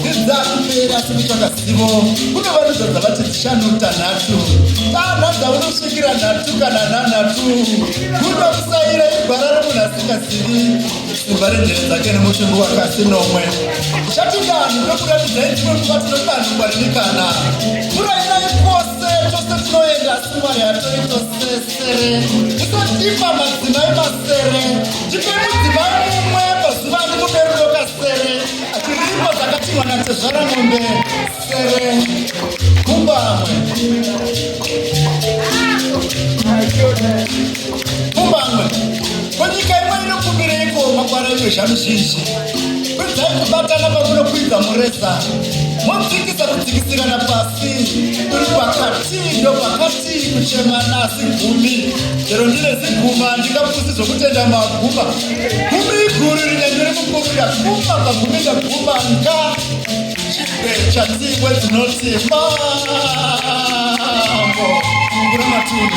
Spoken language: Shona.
Ndidzakuteera simitsaka zivo kune vanodza dzavati dzishanu tanhatu tana dzaunosvikira nhatu kana nanhatu kuda kusaira igwara remunhu asingazivi simba renjere dzake nemutumbi wakasi nomwe chati vanhu vekuratidza idzimwe nguva tinodanhu kwaririkana kurainai kwose tose tinoenda asi mwari hatori tosesere tisadipa madzimai masere tipei Zvirimwa zvakatimwa natezvara mombe sere kumbamwe kumbamwe kwenyika imwe inokumbireiko makwara iwe zvanuzhinji kwidzai kubatana pakunokwidza mureza modzikisa kudzikisirana pasi uri pakati ndopakati kuchema asi gumi chero ndine ziguma handingapusi zvokutenda maguma gumi iguru rine ndiri mukumbira guma pagumi ndaguma nga chikwe chatiwe dzinoti mambo kuramatundu